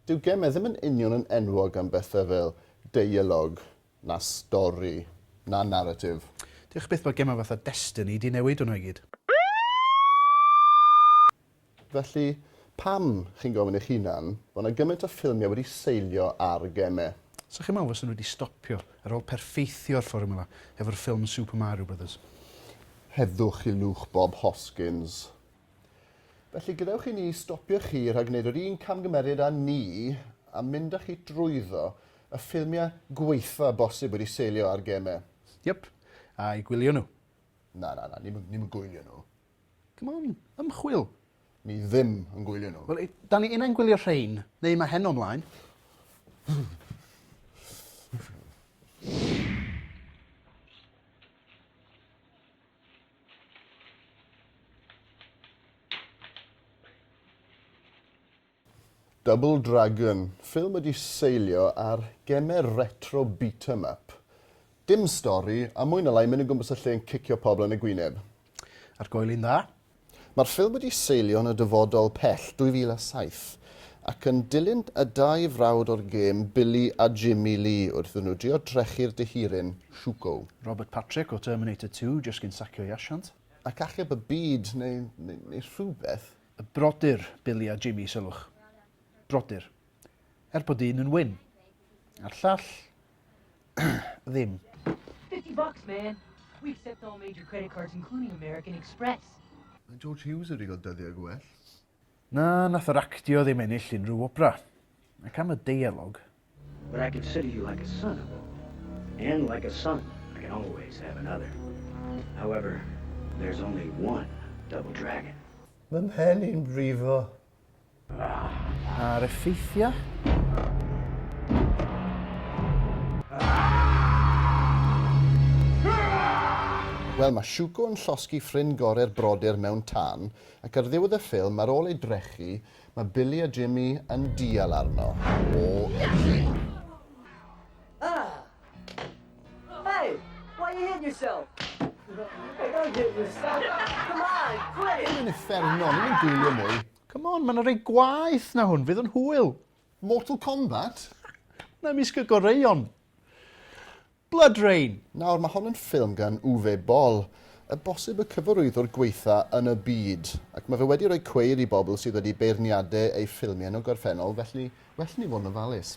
Dyw gemau ddim yn union yn enwog am bethau fel deialog, na stori, na naratif. Diolch byth bod gemau fatha Destiny 'di newid hwnna i gyd. Felly, pam, chi'n gofyn eich hunan, bod 'na gymaint o ffilmiau wedi seilio ar gemau? Sa chi'n meddwl fysen nhw wedi stopio ar ôl perffeithio'r fformiwla hefo'r ffilm Super Mario Brothers? Heddwch i lwch Bob Hoskins. Felly, gadewch i ni stopio chi rhag gwneud yr un camgymeriad â ni a mynd â chi drwyddo y ffilmiau gwaetha bosib wedi seilio ar gemau. Yep, a'i gwylio nhw. Na, na, na, ni'm ni'm yn gwylio nhw. Come on, ymchwil! Ni ddim yn gwylio nhw. Wel, da ni unai'n gwylio rhein, neu mae heno ymlaen. Double Dragon, ffilm wedi seilio ar gemer retro beat 'em up. Dim stori, a mwy na lai mynd o gwmpas y lle yn cicio pobl yn y gwyneb. Ar goel un dda? Mae'r ffilm wedi seilio yn y dyfodol pell 2007 ac yn dilyn y dau frawd o'r gêm Billy a Jimmy Lee wrth iddyn nhw drio drechu'r dehiryn Shuko. Robert Patrick o Terminator 2 jyst cyn sacio'i asiant. Ac achub y byd neu, neu rhywbeth. Y brodyr Billy a Jimmy, sylwch. Brodyr. Er bod un yn wyn. A'r llall, ddim. 50 bucks, man. We accept all major credit cards, including American Express. Mae George Hughes wedi cael dyddiau gwell. Na, nath yr actio ddim ennill unrhyw wobra. Ac am y deialog. But I consider you like a son of it. And like a son, I can always have another. However, there's only one double dragon. Mae mhen i'n brifo. Ar effeithiau. Wel, mae Shuko yn llosgi ffrind gorau'r brodyr mewn tân, ac ar ddiwedd y ffilm, ar ôl ei drechu, mae Billy a Jimmy yn dial arno. O, ydi. Ah! Hey! Why are you hitting yourself? Hey, don't hit yourself! Come on, quit it! Hwn yn uffernol, ni'n gwylio mwy. Come on, mae'n rhoi gwaith na hwn, fydd yn hwyl. Mortal Kombat? Na misg y goreuon. Blood Rain! Nawr, mae hon yn ffilm gan Uwe Boll, y bosib y cyfarwyddwr gweitha yn y byd, ac mae fe wedi rhoi cweir i bobl sydd wedi beirniade ei ffilmiau yn y gorffennol, felly well ni fod yn ofalus.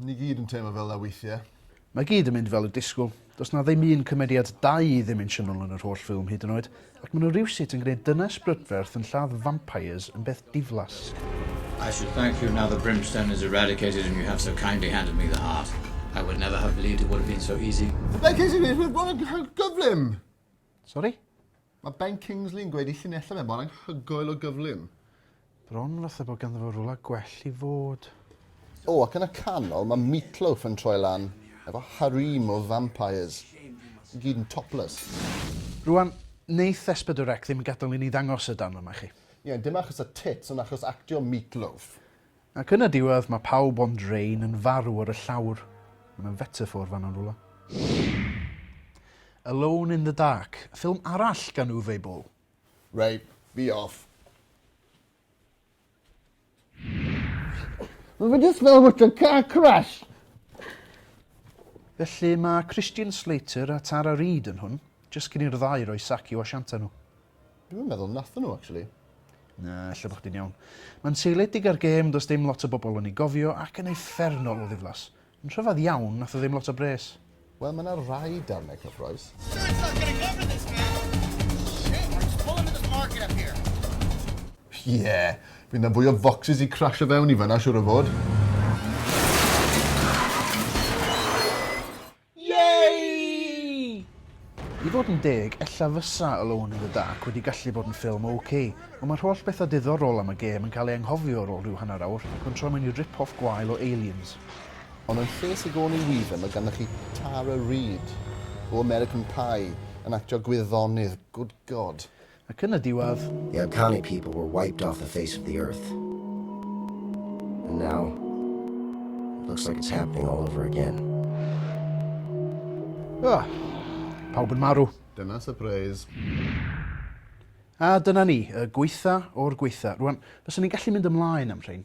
Ni gyd yn teimlo fel 'na weithie. Mae gyd yn mynd fel y disgwyl. Does 'na ddim un cymeriad da i ddimensiynol yn yr holl ffilm hyd yn oed, ac ma' nhw rywsut yn gwneud dynes brydferth yn lladd vampires yn beth diflas. I should thank you now the brimstone is eradicated and you have so kindly handed me the heart. I would never have believed it would have been so easy. Like is it is it was gyflym. Sori? Mae Ben Kingsley yn gweud ei llinellau fe mor anghygoel o gyflym. Bron fatha bod ganddo fo rwla gwell i fod. O, ac yn y canol mae Meatloaf yn troi lan efo harem o vampires, i gyd yn topless. Rwan, neith Espedorec ddim yn gadel i ni ddangos y darn yma i chi. Ie, dim achos y tits ond achos actio Meatloaf. Ac yn y diwedd mae pawb ond Rain yn farw ar y llawr. Mae yna fetaffôr fan'na yn rywle. Alone in the Dark, ffilm arall gan Uwe Boll. Ray, fi off. Mae fe jyst fel bod y car crash! Felly mae Christian Slater a Tara Reid yn hwn, jyst cyn i'r ddau roi sac i'w asianta nhw. Dwi'm yn meddwl nathon nhw actually. Na, ella bo' chdi'n iawn. Mae'n seiliedig ar gêm does dim lot o bobl yn ei gofio ac yn uffernol o ddiflas. Yn rhyfedd iawn, nath o ddim lot o bres. Wel, mae yna rai darnau cyffroes. Ie, bydd na fwy o focsys i crasio fewn i fanna siŵr o fod. Yay! I fod yn deg, ella fysa Alone in the Dark wedi gallu bod yn ffilm ok, ond mae'r holl bethau diddorol am y gêm yn cael ei anghofio ar ôl rhyw hanner awr ac yn troi mewn i rip-off gwael o Aliens. Ond yn lle Sigourney Weaver mae ganddoch chi Tara Reid o American Pie yn actio gwyddonydd, good God! Ac yn y diwedd. The Amkani people were wiped off the face of the earth. And now, it looks like it's happening all over again. Ah, pawb yn marw. Dyna surprise. A dyna ni, y gweitha o'r gweitha. Rwan, fyswn ni'n gallu mynd ymlaen am rhain.